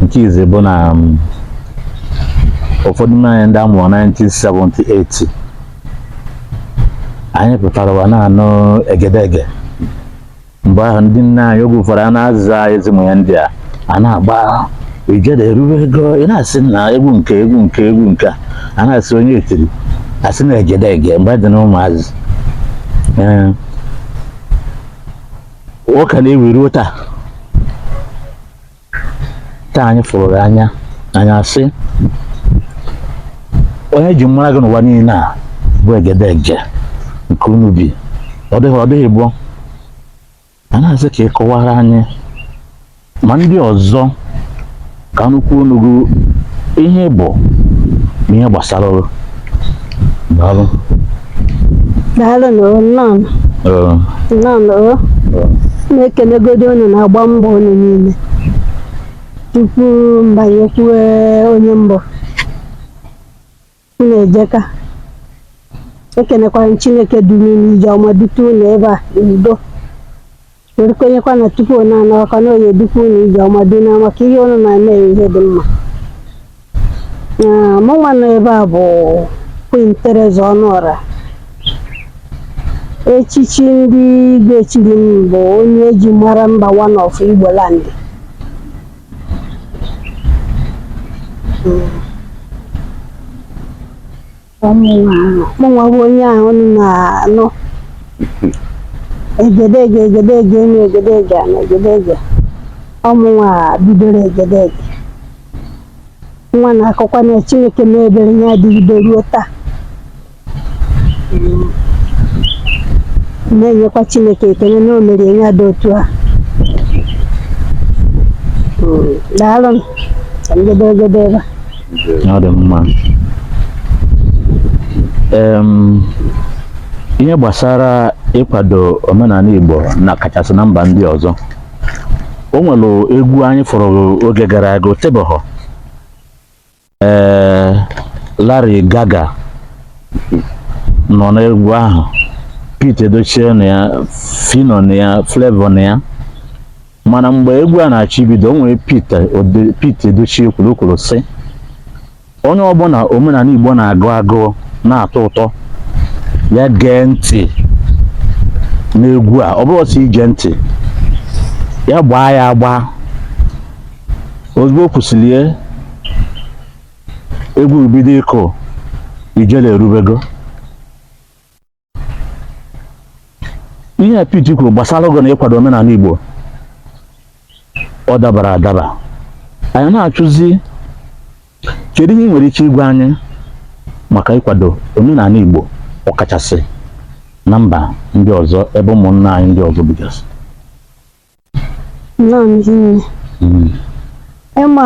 nke izi bụ na um, ụfọdụ n'ime anyị ndị a mụrụ 1978 anyị pụtara ụwa na-anụ egedege mgbe ahụ ndị nna anyị oge ụfọdụ a na-aza ezimụ ya ndị a a na-agba ijere erube ego ị na-asị na egwu nke egwu nke egwu nke a na-asị onye etiri a sị na egedege mgbe dị na ụmụazị ọ ka na-ewu ruo taa taa anyị fụrụ gị anya anyị asị onye eji mara gị n'ụwa niile a bụ egedege nke unu bido ọ dị gboo a na-asị ka ị kọwara anyị ma ndị ọzọ ka a nụkwuo ọnụ gị ihe bụ na ihe gbasara Daalụ. daalụnụ o nnọọ Ee, nnọọnụ o ee. na-ekenegodi unu na-agba mbọ unu niile tupu m banye kwuwe onye mbọ unu ejeka ekenekwara m Chineke duru unu ije ọma dute unu ebe a n'udo M kwenyekwa na tupu unu anaa ọkwa na ọ ya-edukwu unu ije ọma dị na maka ihe unu na-eme ihe dị mma mụ nwa nọ ebe a bụ Queen Theresa Ọnụọra echichi ndị igwe chiri m bụ onye eji mara mba one of Igbo land hmm. mụnwa bụ onye ahụ unu na-anụ egedege egedege enu egedege na egedege ọ mụnwa bidoro egedege nwa a na-akọkwa na Chineke mee ebere ya adịgide ruo taa na-enyekwa Chineke ekele na o mere ya adị otu a daalụ maka egedege a ọ dị mma Em, ihe gbasara ịkwado omenala Igbo na kachasị na mba ndị ọzọ o nwere egwu anyị fụrụ oge gara aga o tebehọ ee Larry Gaga nọ n'egwu ahụ Pete Edochie na ya Phyno na ya Flavour na ya mana mgbe egwu a na-achọ ibido o nwere Pete Ode- Pete Edochie kwuru o kwuru sị onye ọbụla omenanị Igbo na-agụ agụụ na-atọ ụtọ ya gee ntị n'egwu a ọ bụrọ sọ ige ntị ya gbaa ya agba ozugbo o kwusịrị ya egwu bido ịkụ ijele erubego ihe a Pete kwuru gbasara egwu na ịkwado omenanị Igbo ọ dabara adaba anyị na-ajụzi kedu ihe ị nwere ike ịgwa anyị maka ịkwado omenanị Igbo ọkachasị na mba ndị ọzọ ebe ụmụnna anyị ndị ọzọ bigasị nnọọ ndị nne Mm. ịma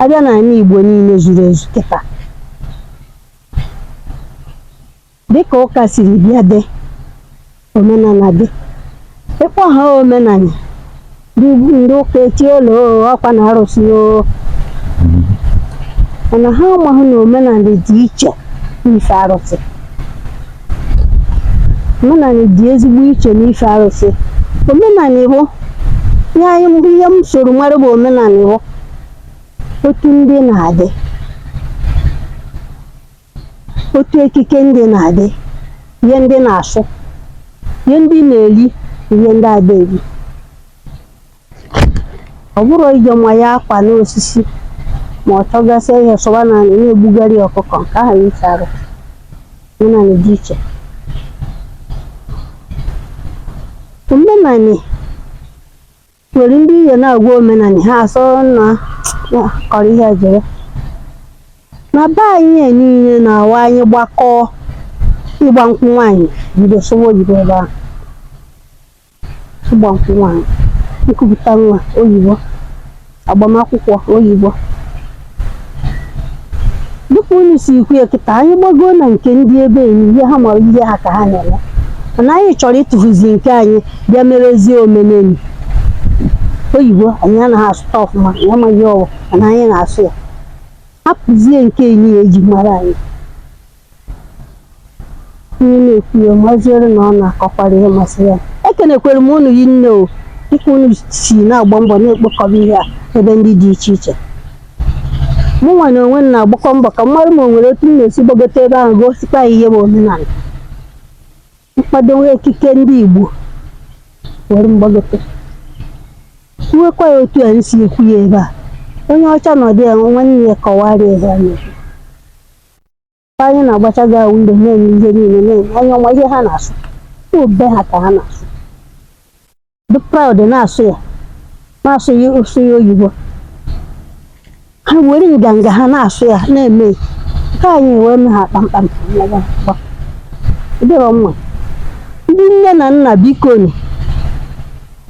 a bịa n'anị Igbo niile zuru ezu kịta dịka ụka siri bịa ndị omenanị dị ịkpọ ha omenanị Ndị ụka etiolu ọkwa na arụsị o mana ha amaghị na omenanị dị iche n'ife arụsị omenanị dị ezigbo iche n'ife arụsị omenanị bụ nye anyị mbụ ihe m soro mara bụ omenanị bụ otu ndị na-adị otu ekike ndị na-adị ihe ndị na-asụ ihe ndị na-eri ihe ndị ada eri ọ bụrọ ije ma ya akwa n'osisi ma ọ chọgasịa ihe sọba n'anị na-egbugharị ọkụkọ nke ahụ iche arụ omenanị dị iche omenanị Nwere ndị ihe na-agwa omenani ha asọ na na kọrọ ihe jere. Na be anyị anyị na onwe anyị gbakọọ ịgba nkwụ nwaanyị bido sụwa oyibo ebe ahụ. Ịgba nkwụ nwaanyị, nkupụta nwa oyibo, agbamakwụkwọ oyibo. dịka unu si kwuo ya kịta anyị gbagoo na nke ndị ebe enyi ihe ha mara ihe ha ka ha na-eme mana anyị chọrọ ịtụfuzi nke anyị bịa merezie omenanị oyibo anyị anaghị asụta ọfụma anyị amaghị asụ mana anyị na-asụ ya hapụzie nke anyị a e ji mara anyị Ihe na-ekwuye ma ọ zụrụ na ọ na-akọkwara ihe masịrị ya. Ekenekwere m unu rinne o dịka unu si na-agba mbọ na-ekpokọba ihe a ebe ndị dị iche iche. Mụ nwa na onwe m na-agbakwa mbọ ka m mara ma o nwere otu m ga-esi gbagote ebe ahụ gosikwa ya ihe bụ omenala. M kpadowe ekike ndị Igbo were m gbagote. Kwuwekwa ya otu a m si ekwu ya ebe a. Onye ọcha nọdụ ya nwanne ya kọwara ya ihe a na-ekwu. anyị na-agbacha gị ahụ mgbe na-eme ihe niile na-eme anya ọma ihe ha na-asụ be ha ka ha na-asụ dị proud na-asụ ya na-asụ ya ị sụa oyibo ha were nganga ha na-asụ ya na-eme nke anyị wee mee ha kpamkpam dịrọ mma ndị nne na nna bikonu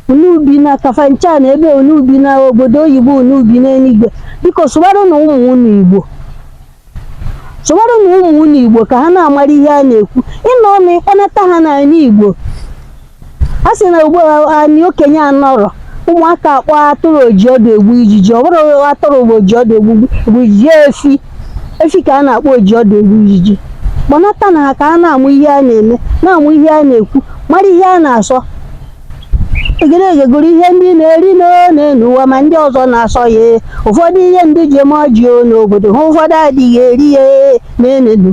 unu bi na kafanchan ebe unu bi na obodo oyibo unu bi n'eluigwe biko sụwaranụ ụmụ unu igbo sụwaranụ ụmụ unu igbo ka ha na-amara ihe a na-ekwu ịnọ ọnụ ịkpọnata ha n'ala igbo a sị na ugbu a anyị okenye anọrọ ụmụaka akpọ atụrụ oji ọdụ egbu ijiji ọ bụrọ atụrụ bụ oji ọdụ egbu ijiji efi efi ka a na-akpọ oji ọdụ egbu ijiji kpọnatanụ ha ka ha na-amụ ihe a na-eme na-amụ ihe a na-ekwu mara ihe a na-asọ egede egegoro ihe ndị na-eri n'enu ụwa ma ndị ọzọ na-asọ ya ụfọdụ ihe ndị ji eme ọjị o n'obodo ha ụfọdụ adịghị eri ya n'enenu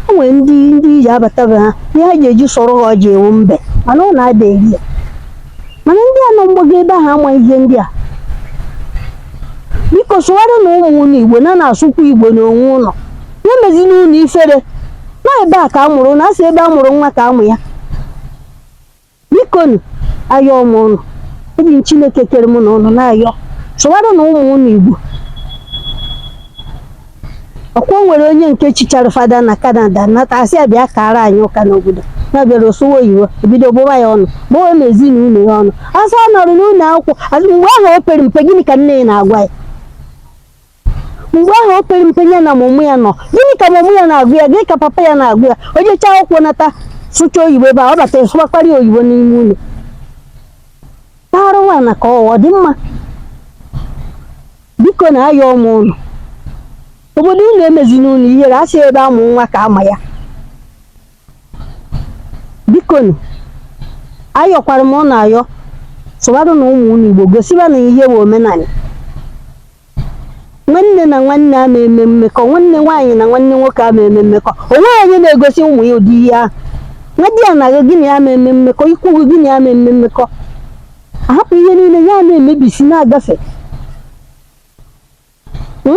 o nwere ndị ndị ji abata be ha ihe ha ji eji sọrọ ha ọjị ewu mbe mana ọ na-ada eri ya mana ndị a nọ mgbago ebe ahụ ama ihe ndị a biko sụwaranụ ụmụ unu igbo unu na-asụkwa igbo n'onwe unu ya emezina unu ifere na ebe a ka a mụrụ unu a sị ebe a mụrụ nwa ka a ma ya bikonu ayọọ m ụnụ eji m chineke kere mụ na ụnụ na-ayọ sụwaranụ ụmụ ụnụ igbo ọ kwa o nwere onye nke chichara fada na kanada nata a sị ya bịa kara anyị ụka n'obodo na bịara ọ sụwa oyibo e bido gbụwa ya ọnụ gbụwa na ezinụlọ ya ọnụ a sị ọ nọrọ n'ụlọ akwụkwọ mgbe ahụ o pere mpe gịnị ka nne ya na-agwa ya mgbe ahụ o pere mpe ya na mama ya nọ gịnị ka mama ya na-agwa ya gịnị ka papa ya na-agwa ya o jechaa akwụkwọ nata sụcha oyibo ebe a ọ bata sụwakwara ya oyibo n'ime ụlọ taara nwa na ka ọ dị mma bikonu ayọọ m unu obodo unu emezina unu ihere a sị ebe a mụ nwa ka a ma ya bikonu ayọkwara m unu ayọ sụwaranụ ụmụ unu igbo gosibanụ ha ihe bụ omenala Nwanne na nwanne ama eme mmekọ, nwanne nwaanyị na nwanne nwoke ama eme mmekọ. O nweghị onye na-egosi ụmụ ya ụdị ihe ahụ. Nwadiana gị gị na ya ama eme mmekọ, ikwu gị gị na ya ama eme mmekọ. A hapụ ihe niile ya na-emebisi na-agafe. Hmm?